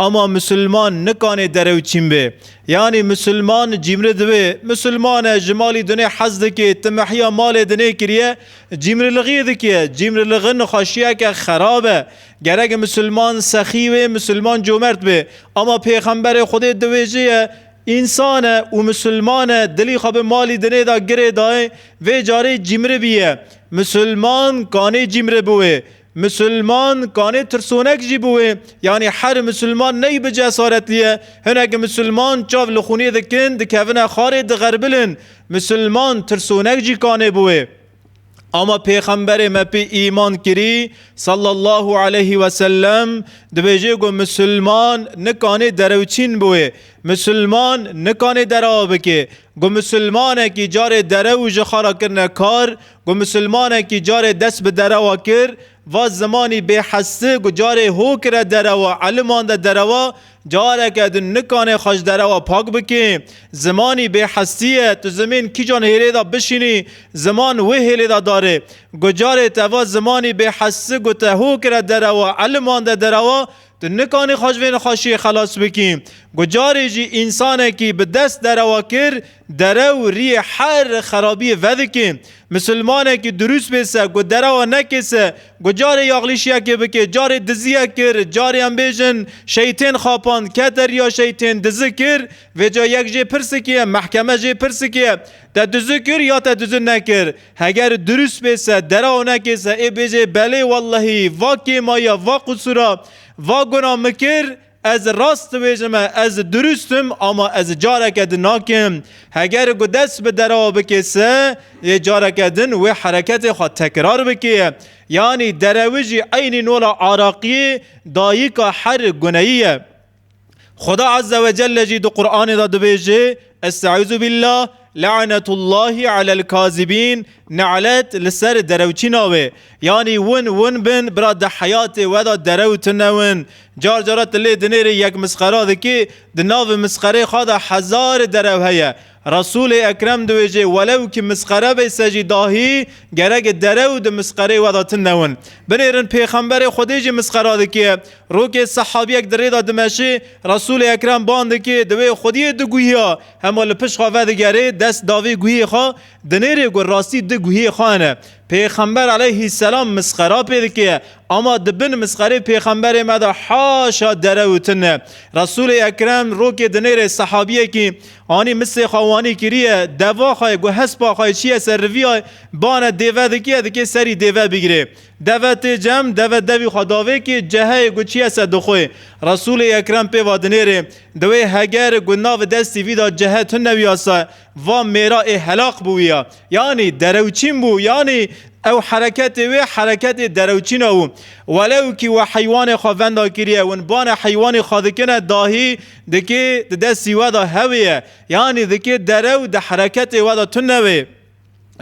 Ama Musulman nikanê derew çîn bê. Yanî Musulman cîmri dibe. Musulman e, ji malî dinê hez dike, timehiya malê dinê kiriye, cîmriliğiyê dike. Cîmriliği nixweşiyeke xerab e. Gerek Musulman sexî bê, Musulman comert bê. Ama Pêxemberê Xwedê diwêjeye, Însan e û Musulman e, dilî xwe bi malî dinê de girê dayê, vê carê cîmri bîye. Musulman kanê cîmri biwê. Misilman kanê tirsonek jî biwê, yanî her misilman ney bi cesaretlî ye. Hinek misilman çav li xûnê dikin, dikevine xarê diğerbilin. Misilman tirsonek jî kanê biwê. Ama Pêxemberê me pê îman kirî, sallallahu aleyhî we sellem, dibêjê ku misilman nikanê derewçîn biwê. Misilman nikanê derawa bikê. Ku misilmanekî carê derew û ji xara kirine kar, Ku musulmanekî carê dest bi derewa kir, va zimanî bê hesti ku carê ho kire derewa, eliman de derewa, careke din nikanê xwe ji derewa pak bikê. Zimanî bê hestî ye, tu zimên kîjan hêlê de bişînî, ziman wê hêlê de darê. Ku carê te va zimanî bê hesti ku te ho kire derewa, eliman de derewa, Tu nikanî xwe ji vê nexweşiyê xelas bikî. Ku carê jî însanekî bi dest derewa kir, dere û riyê her xerabiyê vedikê. Misilmanekî dirûst bê se, ku derewa nekê se, ku carê yaxlîşiyekê bikê, carê diziyek kir, carê em bêjin şeytên xapand, kete riya şeytên, dizi kir, vêca yek jê pirsikê ye, mehkeme jê pirsikê ye, te dizi kir ya te dizi nekir? Heger durust bê se dera onekê se ê bêjê belê wellehî va kêmaya va qusura va guna min kir ez rast dibêjime ez durust im ama ez careke din nakim heger ku dest bi dera bikê se yê careke din wê hereketê xwe tekrar bikê yanî derewijî eynî nola araqiyê dayika her guneyî ye. Xuda Azze ve Celle jî di Qur'anê de dibêje Estaizu billah La'netullahi alel kazibîn Ne'let li ser derewçîna wê Yanî win win bin bira di heyatê we de derew tune win Car cara tu lê dinêrî yek misxera dikî di navê misxereyê xwe de hezar derew heye Resûlê Ekrem di wêjê welew ki misqere bê se jî dahî gerege dere û di misqereyê we de tinde win. Binêrin Pêxemberê Xwedê jî misqera dike. Rokê sehabiyek di rê de dimeşê, Resûlê Ekrem bang dike, di wê xwediyê di guhiya. Hema li pişt xwe vedigerê, dest da vê guhiyê xwe, dinêrê ku rastî di guhiyê xwe hene. Pêxember eleyhîsselam misqera pê dike. Ama di bin misqerê Pêxemberê me de haşa dere û tinde. Resûlê Ekrem rokê dinêrê sehabiyekî, Anî misê xwe wanî kiriye, deva xwe ye ku hespa xwe çiye ser riviya, bane dêve dikiye, dikê serî dêve bigirê. Deve tê cem, deve devî xwe davê kî ceheyê ku çiye ser dixwê. Resûlê Ekrem pê va dinêrê, di wê hegeri ku navi destî vî da cehe tune wî ya se, va mêra ê helaq bû wî ya. Yanî derewçîn bû, yanî ew hereketê wê hereketê derewçîna bû. Welew kî we heywanê xwe venda kiriye, win bane heywanî xwe dikine dahî, Dikê di destî we de hewê ye, yanî dikê dere û di hereketê we de tune wê.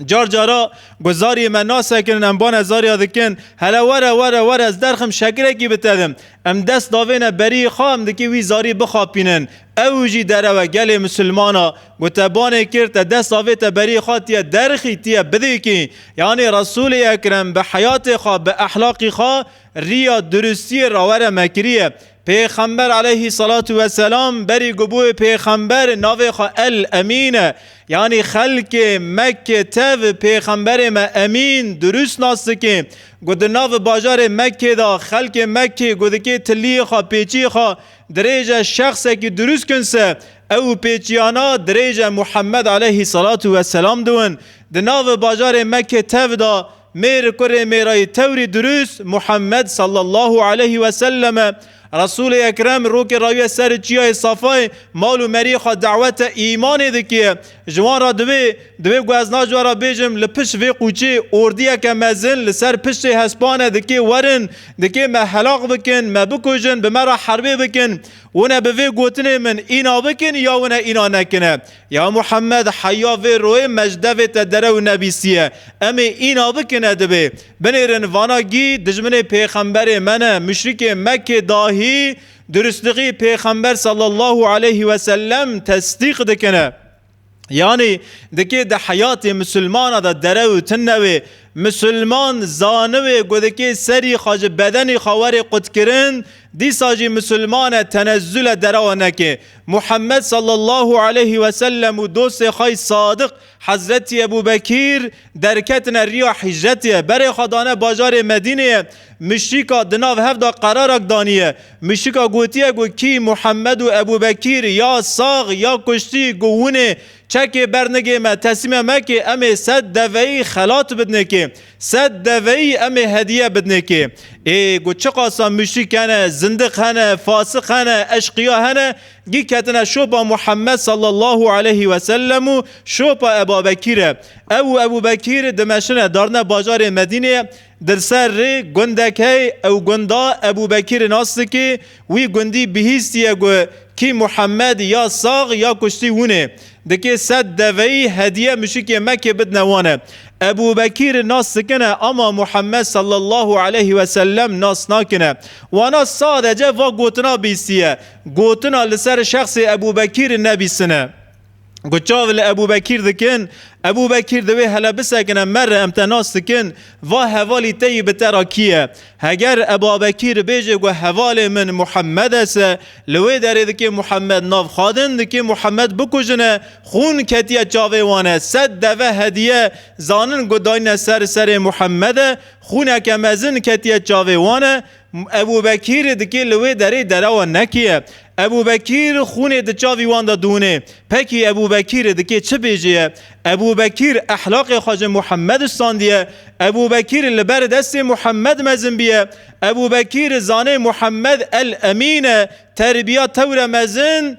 Car cara guzariyê me nasekirin, em bane zariya dikin, hele were were were ez derxim şekirekî bi te dim. Em dest davêne beriyê xwe, em dikê wî zarî bixapînin. Ew jî derewe gelê misilman a, ku te banê kir, te dest avête beriyê xwe tu yê derxî, tu yê bidikî. Yanî Resûlê Ekrem bi heyatê xwe, bi ehlaqî xwe riya duristiyê rawere me kiriye. Pêxember eleyhî selatu weselam berî gubû pêxember navê xwe El Emîn e. Yanî xelkê Mekke tev pêxemberê me Emîn durust nas dike. Ku di nav bajarê Mekkê de xelkê Mekkê ku dike tiliyê xwe pêçiyê xwe dirêje şexsekî durust kinse ew pêçiyana dirêje Muhemmed eleyhî selatu weselam diwin. Di nav bajarê Mekkê tev de Mêr kurê mêrayî tewrî dirûs Muhammed sallallahu aleyhî we sellem e. Resûlê Ekrem rokê rawîye serê çîyayê Safayê mal û merîyê xwe dawete îmanê dikîye. Ji wan re divê, divê ku ez naji we re bêjim li pişt vê qûçê ordîyeke mezin li ser piştê hespane dikê werin, dikê me helax bikin, me bikujin, bi me re herbê bikin. Wine bi vê gotinê min îna bikin ya wine îna nekine. Ya Muhammed heya vê royê mecdevê te derew nebîsiye. Em ê îna bikine dibê. Binêrin vana gî dijminê pêxemberê me ne, muşrikê Mekkê dahî durustlixî pêxember sallallahu aleyhi ve sellem tesdîq dikine. Yanî dikê di heyatê musulmana de derew tine wê. Musulman zaniwê ku dikê serî xwe ji bedenî xwe werê qutkirin, dîsa jî musulman e tenezule derewa neke. Muhammed sallallahu aleyhi ve sellem û dostê xwe yê sadiq Hezretî Ebû Bekîr derketine rîya hîcretê, berê xwe dane bajarê Medîneyê, muşrîka di nav hev de qerarak danîye. Muşrîka gotiye ku kî Muhammed û Ebû Bekîr ya sax ya kuştî ku winê çekê bernigê me teslîme mekê em ê sed deveyî xelat bidinê kê. Sed deveyî em ê hediye bidinê kê. Ê ku çiqasa muşrik hene, zindiq hene, fasik hene, eşqiya hene, gî ketine şopa Muhammed sallallahu aleyhî ve sellem û şopa Ebabekî re. Ew û Ebûbekîr dimeşine darine bajarê Medîneyê, dilser rê gundek hey, ew gunda Ebûbekîrê nas dikê, Wî gundî bihîstiye ku kî Muhemed ya sax ya kuştî hûnê dikê sed deveyî hedîye muşikê Mekê bidine wan e. Ebû Bekîr nas dikine ama Muhemed sallallahu aleyh we sellem nas nakine. Wana sadece va gotina bîstiye. Gotina li ser şexsê Ebû Bekîr nebîstine. Ku çav li Ebû Bekîr dikin, Ebû Bekîr di wê hele bisekine mere em te nas dikin, va hevalî te yî bi te ra kî ye? Heger Eba Bekîr bêje ku hevalê min Muhemmed es e, li wê derê dikê Muhemmed nav xadin, dikê Muhemmed bikujine, xûn ketiye çavê wan e, sed deve hediye zanin ku dayîne ser serê Muhemmede, xûneke mezin ketiye çavê wan e, Ebûbekîr dikê li wê derê dera wan nekîye. Ebûbekîr xûnê di çavî wan de dûnê. Pekî Ebûbekîr dikê çi bêjîye? Ebûbekîr ehlaqê xwe ji Muhemmed standîye. Ebûbekîr li ber destê Muhemmed mezin bîye. Ebûbekîr zanê Muhemmed El Emîn e. Terbîya tewre mezin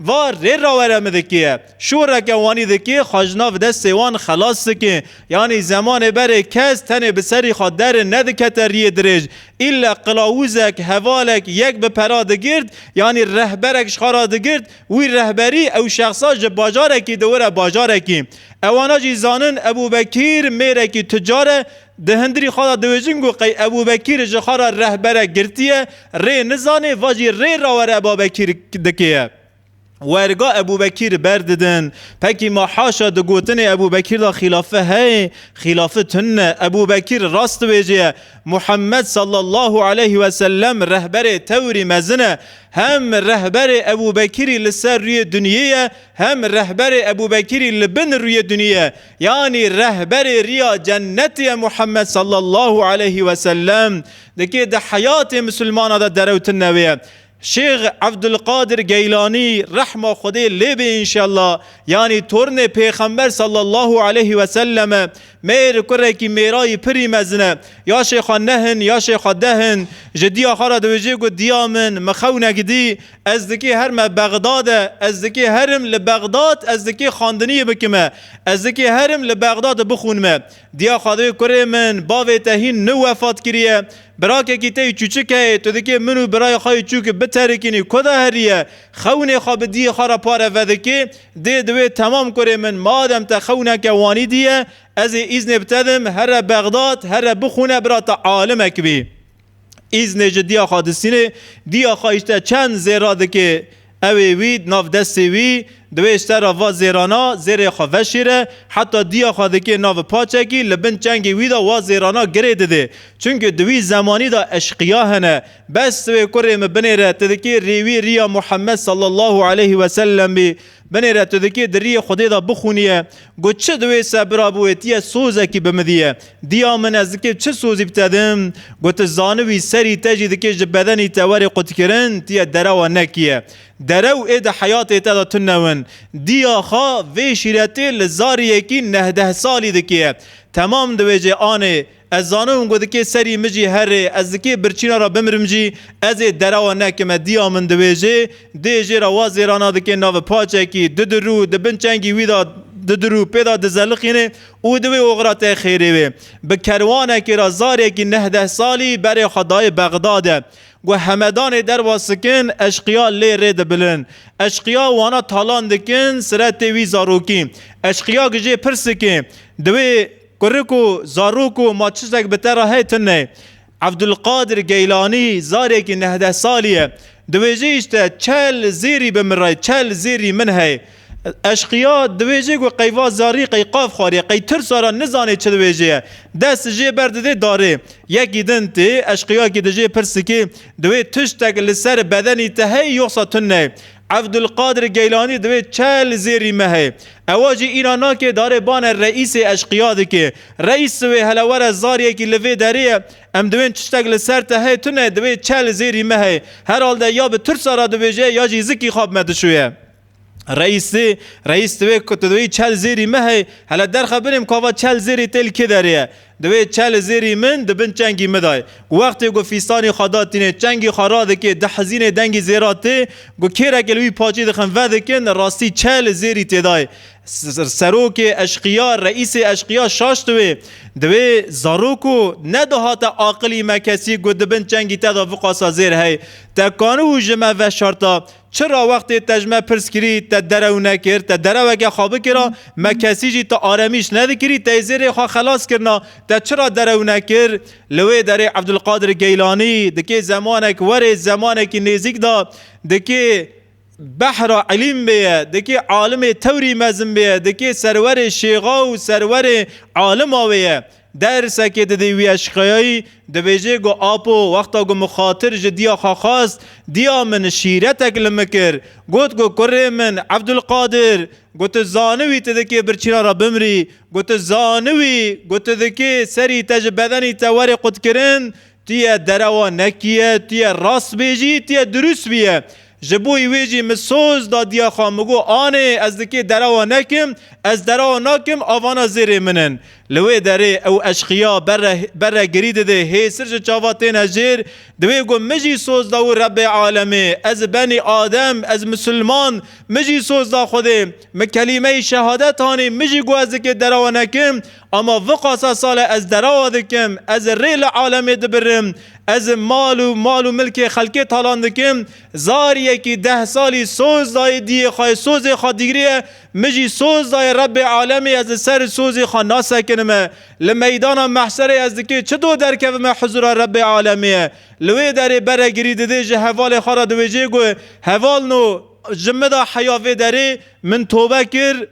Va, Rê rawere min dikê ye. Şoreke wanî dikê xwe ji nav destê wan xelas dikê. Yanî zemanê berê kes tenê bi serî xwe derin nedikete riyê dirêj. Îlle qilawûzek, hevalek, yek bi pera digirt, yanî rehberek ji xwe re digirt, wî rehberî ew şexsa ji bajarekî diwire bajarekî. Ewana jî zanin Ebûbekîr mêrekî tucar e, Di hindirî xwe de diwêjin ku qey Ebûbekîr ji xwe re rehberek girtiye, rê nizanê va jî rê rawere Babekîr dikê ye. Werga Ebûbekîr ber didin. Pekî ma haşa di gotinê Ebûbekîr de xîlafi heye, xîlafi tund e. Ebûbekîr rast diwêje ye. Muhemmed sallallahu aleyh ve sellem rehberê tewrî mezin e. Hem rehberê Ebûbekîrî li ser rûyê dinyê ye, hem rehberê Ebûbekîrî li bin rûyê dinyê ye. Yanî rehberê riya cennetê ye Muhammed sallallahu aleyhi ve sellem dikê di heyatê misilmanan de derewtin ne wê ye. Şêx Evdulqadir Geylanî rehma Xwedê lê bê înşellah yanî tornê pêxember sallallahu aleyhi ve sellem e. Mêr kurekî mêrayî pirî mezin e. Ya şêxa neh in ya şêxa deh in. Ji diya xwe re diwêjê ku diya min, mi xew negdî. Ez dikê her me Bexdade, ez dikê herim li Bexdad, ez dikê xandiniyê bikime, ez dikê herim li Bexdade bixûnime. Diya Xwedê kurê min, bavê te hîn ni wefat kiriye. Birakekî te yî çûçik heye, tu dikê min û birayê xwe yî çûk biterikînî. Ku de heriye, xewnê xwe bi diyê xwe re pare vedikê. Dê di wê temam kurê min, madem te xewneke wanî dî ye, ez ê îznê bi te dim here Bexdad, here bixûne bira te alimek bî. Îznê ji Diya Xadisînê, Diya xwe îşte çend zêra dike, ew ê wî di nav destê wî di wê îşte re va zêrana, zêrê xwe veşêre, heta Diya xwe dike nav paçekî, li bin çengê wî de wa zêrana girê dide. Çimkî di wî zemanî de eşqiya hene. Bes wê kurê min binêre, tu dikê rê wî riya Muhammed sallallahu aleyhi wesellemî, Binê re tu dikê di riyê Xwedê de bixûniye, got çi di wê se bira biwêtiye sozekî bi min diye. Diya min ez dikê çi sozî bi te dim? Got tu zanibî serî te jî dikê ji bedenî te were qutkirin, tu yê derewa nekiye. Derew ê di heyatê te de tunewin. Diya xwe vê şîretê li zariyekî nehdeh salî dikê. Temam di wê cê anê Ez zanim hûn godikê serî min jî herê, ez dikê birçîna re bimirim jî, ez ê derawa nekim e dîya min diwêjê, dê jê re wa zêrana dikê navê paçekî, didirû, di bin çengî wî de didirû, pê de dizelixînê û di wê oxira tê xêrê wê. Bi kerwanekê re zarekî nehdeh salî berê xwe dayê Bexdadê. Got hemedanê derwa sikin, eşqiya lê rê dibilin. Eşqiya wana talan dikin siretê wî zarokî. Eşqiya gijê pir sikê. Di wê Kurik û zarok û ma çiştek bi te re heye tune. Evdulqadir Geylanî zarekî nehdeh salî ye. Di wê jê îşte çel zêrî bi min re ye, çel zêrî min heye. Eşqîya di wê jê ku qey va zarî qey qaf xwarî, qey tirsa re nizanê çi di wê jê ye. Dest jê ber didê darê. Yekî din tê, eşqîyakî di jê pirsikê, di wê tiştek li ser bedenî te heye yoxsa tune? Evdulqadir Geylanî divê çel zêrî me heye. Ewa jî înan nake darê bane reîsê eşqîya dike. Reîs si wê hele were zariyekî li vê derê ye. Em diwên tiştek li ser te heye tune divê çel zêrî me heye. Herhalde ya bi tirsa re dibêje ya jî zikî xwe bi me dişuye. Reîsî, Reîs divê ku tu divê çel zêrî me heye. Hele derxe binê em ku ava çel zêrê tê li kê derê ye. Divê çe li zêrî min di bin çengî mi dayê. Ku wextê ku fîstanî xwe da tînê, çengî xwe radikê, dihizînê dengî zêra tê, ku kêrekê li wî paçî dixin vedikin, li rastî çe li zêrî têdayê. Serokê eşqiya, reîsê eşqiya şaş diwê. Divê zarok û ne dihate aqilî me kesî ku di bin çengî te de viqasa zêr hey. Te kaniû ji me veşarta Çira wextê te ji me pirs kirî, te derew nekir, te dereweke xwe bikira, me kesî jî te aremîş nedikirî, te ê zêrê xwe xelas kirina, te çira derew nekir? Li wê derê Evdulqadir Geylanî dikê zemanek were zemanekî nêzîk de dikê behra îlîm bêye, dikê alimê tewrî mezin bêye, dikê serwerê şêxa û serwerê alima wêye. Dersekê didî wî eşqeyayî, dibêjê ku Apo wexta ku mixatir ji dîya xwe xwest, dîya min şîretek li min kir. Got ku kurê min Evdulqadir, ku tu zaniwî tu dikê birçîna re bimrî, ku tu zaniwî ku tu dikê serî te ji bedenî te were qutkirin, Tu yê derewa nekîye, tu yê rast bêjî, tu yê dirûst bîye. Ji bo wê jî min soz da diya xwe, min got, Anê, ez di kê derewa nekim, ez derewa nakim, avana zêrê min in. Li wê derê ew eşqîya berre berre girî dide, hêsir ji çava têne jêr. Di wê got, Min jî soz da wî Rebbê Alemê, ez benî Adem, ez misilman, min jî soz da Xwedê. Min kelîmeyê şehadet anî, min jî got ez di kê derewa nekim, Ama viqasa sale ez derawa dikim, ez ê rê li alemê dibirim, ez ê mal û mal û milkê xelkê talan dikim, zar yekî deh salî soz dayê diyê xwe yê sozê xwe digiriye, min jî soz dayê Rebê alemê ez li ser sozê xwe nasekinime. Li meydana mehşerê ez dikê çi do derkevime hizûra Rebê alemê ye. Li wê derê bere girî didê ji hevalê xwe re diwêjê ku heval no, ji min re heya vê derê, min tobe kir,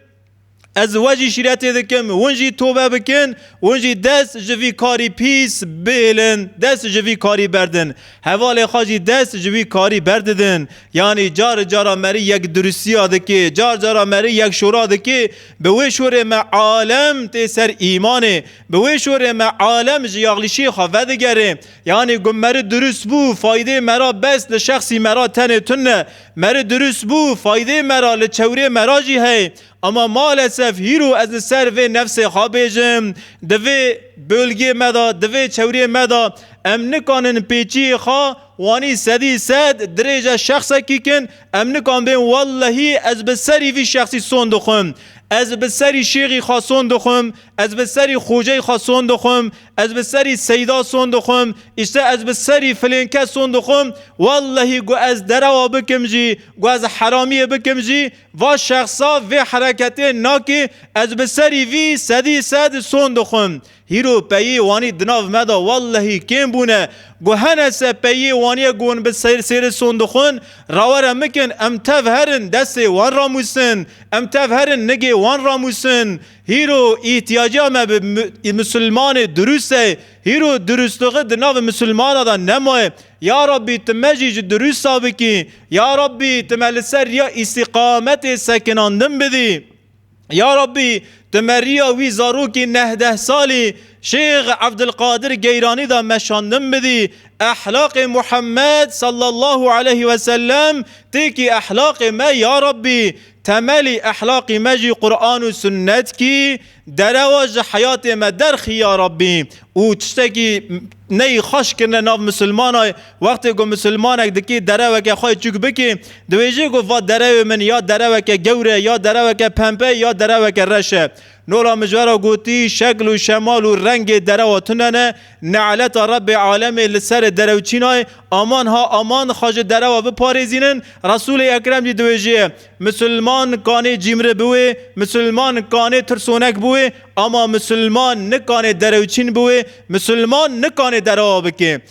Ez we jî şîretê dikim hûn jî tobe bikin, hûn jî dest ji vî karî pîs bihêlin, dest ji vî karî berdin. Hevalê xwe jî dest ji vî karî berdidin. Yanî cari cara merî yek durisiya dikê, car cara merî yek şora dikê. Bi wê şorê me alem tê ser îmanê. Bi wê şorê me alem ji yaxlîşiyê xwe vedigerê. Yanî ku merî durist bû, faydê mera bes li şexsî mera tenê tune. Mere durust bû, faydê mera li çewrê mera jî hey. Ama malesef hîro ez li ser vê nefsê xwe bêjim. Di vê bölgê me de, di vê çewrê me de em nikanin pêçiyê xwe wanî sedî sed dirêje şexsekî kin, em nikan bên wellehî ez bi serî vî şexsî son dixwim, ez bi serî şêxî xwe son dixwim, ez bi serî xoceyê xwe son dixwim, Ez bi serî Seyda son dixwim, îşte ez bi serî filên kes son dixwim, wellehî ku ez derewa bikim jî, ku ez heramiyê bikim jî, va şexsa vê hereketê nakê, ez bi serî vî sedî sed son dixwim. Hîro peyê wanî di nav me de wellehî kêm bûne, ku hene se peyê waniye ku hûn bi ser sêri son dixwin, rawere mikin em tev herin destê wan ramûsin, em tev herin nigê wan ramûsin. Hîro îhtiyaca me bi Musulmanê durust e. Hîro durustixi di navê Musulmana de nemaye. Ya Rabbî tu me jî ji durusta bikî. Ya Rabbî tu me li ser riya îstîqametê sekinandin bidî. Ya Rabbî tu me riya wî zarokî nehdeh salî Şêx Evdilqadir Geyranî de meşandin bidî. Ehlaqê Muhammed sallallahu aleyhi wesellem têkî ehlaqê me ya Rabbî. Temelî ehlaqî me jî Quran û Sunnet kî derewa ji heyatê me derxî ya Rabbî û tiştekî neyî xweş kirine nav misilmanay wextê ku misilmanek dikî dereweke xwe çûk bikî dibêjî ku va derewê min ya dereweke gewre ya dereweke pempe ya dereweke reş e Nora Mijara gotî, Şekl û şemal û rengê derewa tune ne, neeleta Rebê alemê li serê derew çîna ye, aman ha aman xwe ji derewa biparêzînin, Resûlê Ekrem jî diwêjîye, Misilman kanê cîmri biwê, misilman kanê tirsonek biwê, ama misilman nikanê derewçîn biwê, misilman nikanê derewa bikê.